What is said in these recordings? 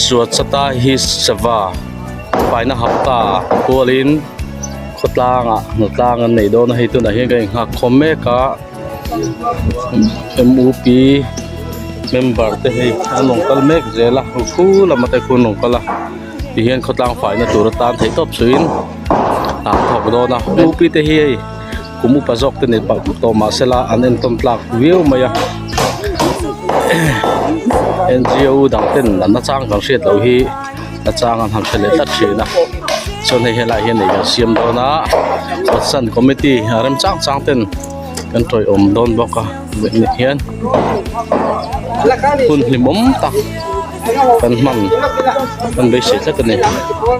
Suatsata hi sava paina ham ta hualin khawtlangah hnatlang an nei dawn a, hei tunah hian ka inhak khawm mek a MUP member te hi an rawn kal mek zel a pu lama te khuan an rawn kal a tihian khawtlang faihna tura tan theih tawp suhin an thawk dawn a MUP te hi hei-- Kum upa zawk te nen parh phawt tawh mah se la an entawm tlak viau mai a. NGO dang ten an achang kan hriat loh hi achang an han hre leh tlat thin a. Chuan hei helai hian nei kan siam dawn a. Pathian committee a rem chang chang ten kan tawihawm dawn bawk a. Hei ni hian hun hlimawm tak kan hman kan beisei tlat a ni.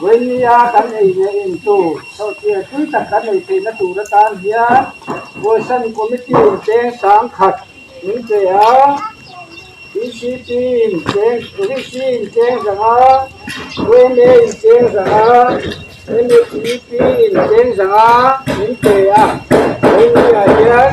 Voinmia kan ei ngei in chu chhohtir tui tak kan nei theihna tur atan hian Voisan Committee in cheng sang khat min che a, BCP in cheng, VC in cheng zang a, VNA in cheng zang a, MEP in cheng zang a min che a, Voinmia hian.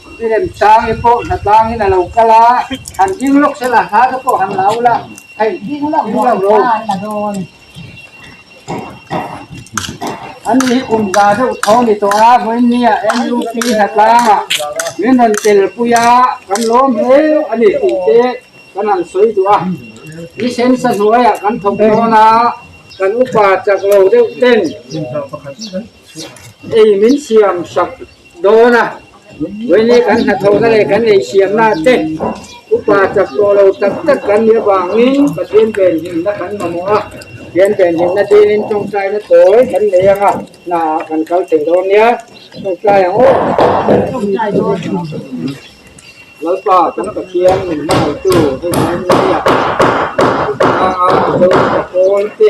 I lem chang hi pawh hna tlang in a lo kal a, han ding lawk se la, hla te pawh han la ul a, hei ding lawk ding lawk lo. An nih hi kum za deuh tho ni tawh a, hmanni ah nup hna tlang ah min han tel pui a, kan lawm hle a ni tih te kan han sawi duh a, i sensa hnuai ah kan thawk dawn a, kan upa chak lo deuh ten, Ei min siam sak dawn a, vawinia kan hnathawhna leh kan eisiamna te upa chak tawh lo tak tak kan nih avangin Pathian ven hlimna kan mamawh a, Pathian ven hlimna dingin tawngtaina tawi kan nei anga hna ah kan kal thei dawn nia. Tawngtai ang aw tawngtai dawn ang. Lalpa kan Pathian min hmangaihtu hei Hmangaihna Biak, Hmangaihna Biak a, Josefa Pawl te.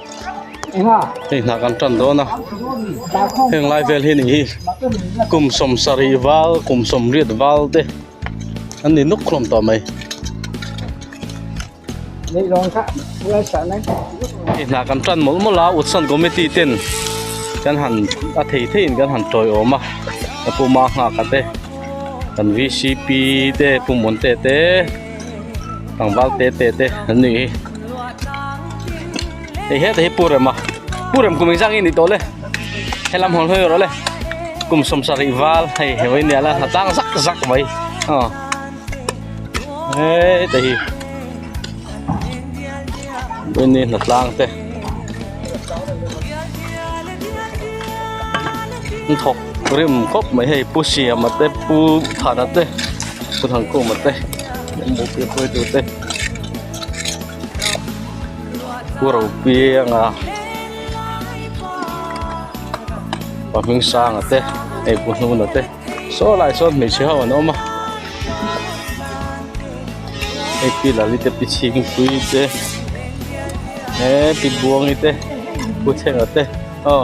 hei hnah kan tan dawn a heng lai vel hi nihi kum sawm sarih val kum sawm riat val te an ni nawk hlawm tawh mai hei hnah kan tan mawlh mawlh a utsan committee ten kan han a thei thei in kan han tawiawm a ka puma nghak a te kan V C P te pumawntete. Tlangval te te te an nih hi. Hei he te hi pu rem a. Pu rem kum exang i ni to le. He lam hol hoi ro le. Kum som sa ri val hei he wei nia la ha tang zak zak mai. Ha. Hei te hi. Wei ni na tlang te. Thok Rim khawp mai hei Pu Siama te Pu Thana te Pu Thangkuma te Mupui khawi tur te Pu Ropianga Pa Hming Sanga te hei Pu Hnuna te saw lai sawn hmeichhe ho an awm a hei Pi Lali te Pi Chhingpui te he Pi Buangi te Pu Thenga te aw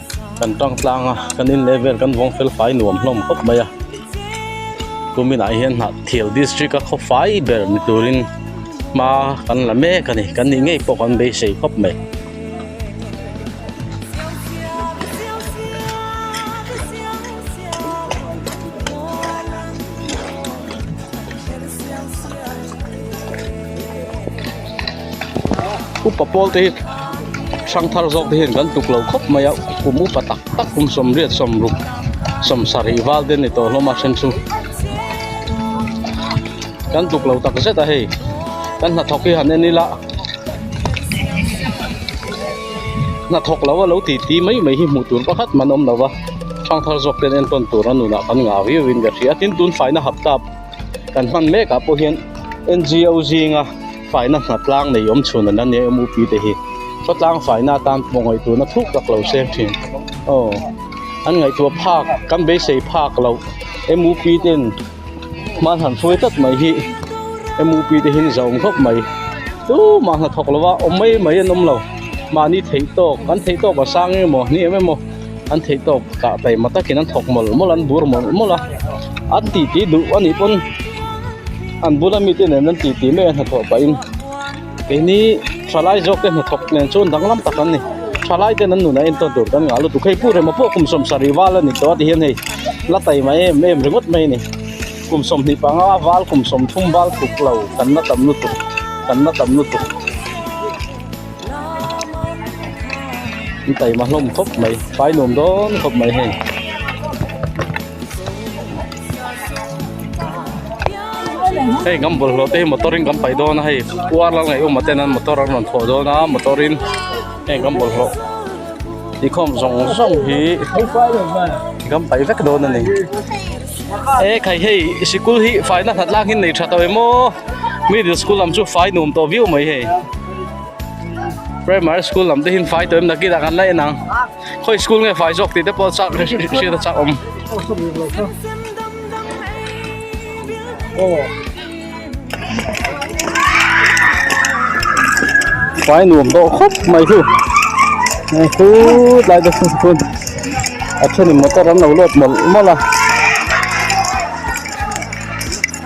Kan tangtlang a, kan in leh vel kan vawng fel fai nuam hlawm khawp mai a. Kumin ah hian Hnahthial district a khaw fai ber ni turin hma kan la mek a ni, kan nih ngei pawh kan beisei khawp mai. upa pawl te hi hrang thar zawk te hian kan tuklo khawp mai a kum upa tak tak kum sawmriat sawmruk sawm sarih val te ni tawh hlawm a then chu kan tuklo tak zet a hei kan hnathawk hi han en ila hnathawk lo a lo ti ti mai mai hi hmuh tur pakhat man awm lo va hrang thar zawk ten entawn tura nunah kan ngah viau in ka hria tin tunfaina hap tap kan hman mek ah pawh hian ngo zinga. Faina hna tlang nei awm chhun an la nih a MUP te hi. Khawtlang faina atan pawh ngaih tuna thuk tak lo se thin. Aw an ngaih tu a phak kan beisei phak loh. MUP ten hman han hruai tlat mai hi MUP te hin za awm khawp mai. Tumah hnathawk lova awm mai mai an awm lo. Mahni theih tawk an theih tawk a sang em aw hniam em aw. An theih tawp kah taima takin an thawk mawlh mawlh, an bur mawlh mawlh a. An titi duh a nih pawn an bula mite nen an titi mai a hnathawh pahin keini hralai zawkte hnathawk nen chu danglam tak an ni. Hralai ten an nunah entawn tur kan ngah lutuk, hei pu Remapuaa kum sawm sarih val a ni tawh a tihian hei la taima em em ringawt mai a ni. Kum sawm hnih panga val kum sawm thum val thuk lo kan la tam lutuk, kan la tam lutuk. An taim a hlawm khawp mai, pai nuam dawn khawp mai hei. Hei ngam bul hlawh te hi motor in kan pai dawn a hei, pu arlal ngaih awm ten an motor an rawn thlawh dawn a, motor in hei ngam bul hlawh nikhawm zawng zawng hi kan pai vek dawn a ni. E khai hei sikul hi faina hnatlang hi an nei tha tawh em aw, middle school lam chu fai nuam tawh viau mai hei. Primary school lam te hin fai toim na kida kan lai nang. Khoi school nge fai zok ti te pol chak shi ta chak om. Oh. Fai nuam do khop mai thu. Mai thu lai da sun kun. Achuni motor an lo lot mol mola.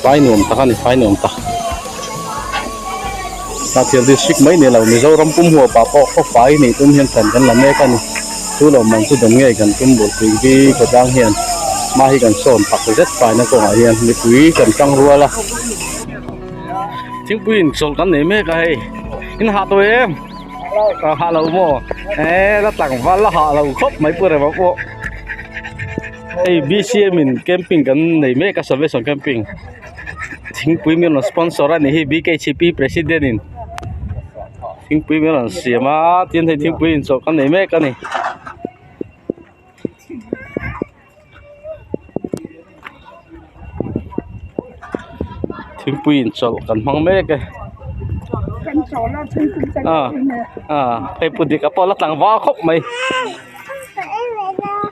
Fai nuam tak a ni, fai nuam tak. Hnahthial district mai ni lo, Mizoram pum huapa pawh khaw fai nei tum hian thian kan la mek a ni. Chu lo man chu dawn ngei kan tum bul tui bik a tang hian hma hi kan sawn tak zet faina kawngah hian mipui kan tang rual a. Thingpuiin chawl kan nei mek a hei. In hah tawh em? Hah lo maw? Ee la tlangval la hah lo khawp mai pawh reva pawh. hei bcm in camping kan nei mek a salvation camping thingpui mian lo sponsor a nih hi bkcp president in thingpui mian lo an siam a tin hei thingpui in chawh ka nei mek a ni. thingpui in chawlh kan hmang mek e a a pheipu dik a pawl a tlangval khawp mai.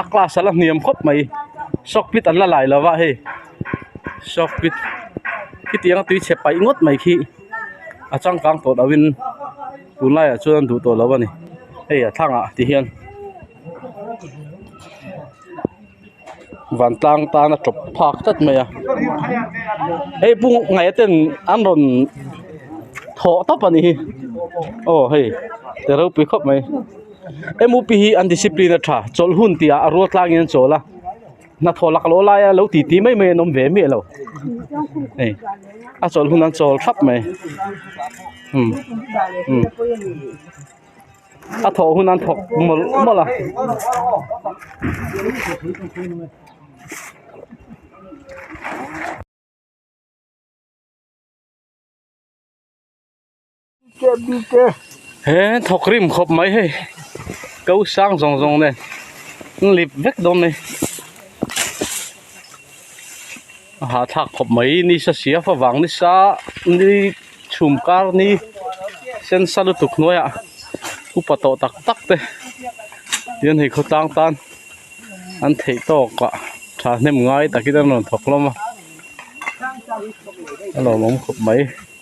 a class a la hniam khawp mai shock pit an la lai lo va hei shock pit khitiang nga tui chhe pai ngawt mai khi a changkang tawh dau in tunlai ah chuan duh tawh lo a ni hei a thlang ah ti hian vantlang tan a tawp phak tlat mai a hei bungraihna ten an rawn thawh tawp a ni hi aw hei ti ropui khawp mai. MUP hi an discipline a tha chawlh hun tih ah a rual tlangin an chawl a hnathawh lak loh laia lo ti ti mai mai an awm ve miah lo hei a chawlh hun an chawl thap mai umm umm a thawh hun an thawk mawlh mawlh a. he thawk rim khawp mai hei ko sang zawng zawng nen n lip vek dawn mai a hahthlak khawp mai ni sa sia fa vang ni sa ni chhum kar ni sensa lutuk hnuai ah upa tawh tak tak te tihian hei khawtlang tan an theih tawk ah thahnem ngai takin an rawn thawk hlawm a a lawmawm khawp mai.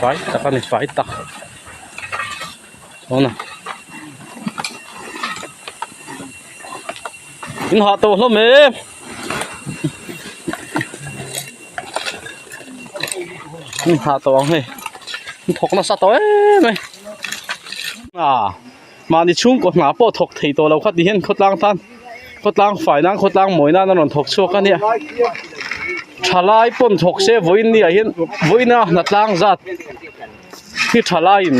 fai tak a ni fai tak tuna in hah tawh hlawm e in hah tawh ang hei in thawk nasa tawh em mai a. Mahni chhungkaw hna pawh thawk thei tawh lo kha ti hian khawtlang tan khawtlang fai nan khawtlang mawi nan a rawn thawk chhuak a nia. Tha lai pawn thawk se vawiin ni ah hian vawiina hna tlang zat hi tha laiin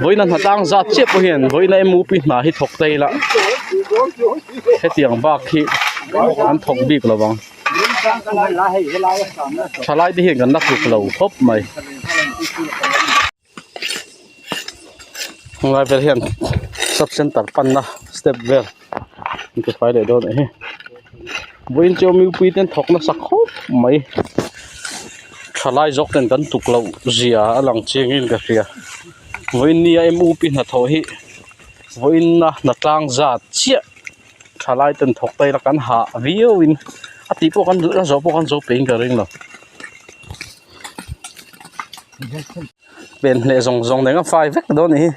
vawiina hna tlang zat chiah pawh hian vawiina mupi hna hi thawk ta ila hetiang bak hi an thawk bik lo vang. Tha lai te hian kan la tluk lo khawp mai. helai vel hian sub centre panna step vel an ti fai leh dawn ahi vawiin chu mipui ten thawk nasa khawp mai tha lai zawk ten kan tukloh zia a lang chiangin ka hria vawiin ni a mu pi hnathawh hi vawiin a hna tlang zat chiah tha lai ten thawk ta ila kan hah viau in a tih pawh kan la zawh pawh kan zo pengin ka ringlo. pen hleh zawng zawng deng a fai vek dawn nih hi.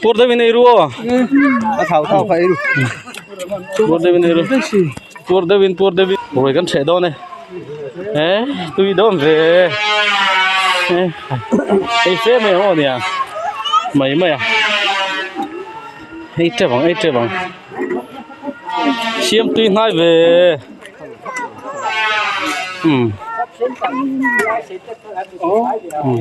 Pur deuh in eiruaw a thau thauka eiru pur deuh in eiru. Tur deuh in tur deuh in ruai kan chheh dawn e eh tui dawn ve e ei se mai ang aw nia mai mai a ei tep ang ei tep ang siam tui hnai ve umm umm.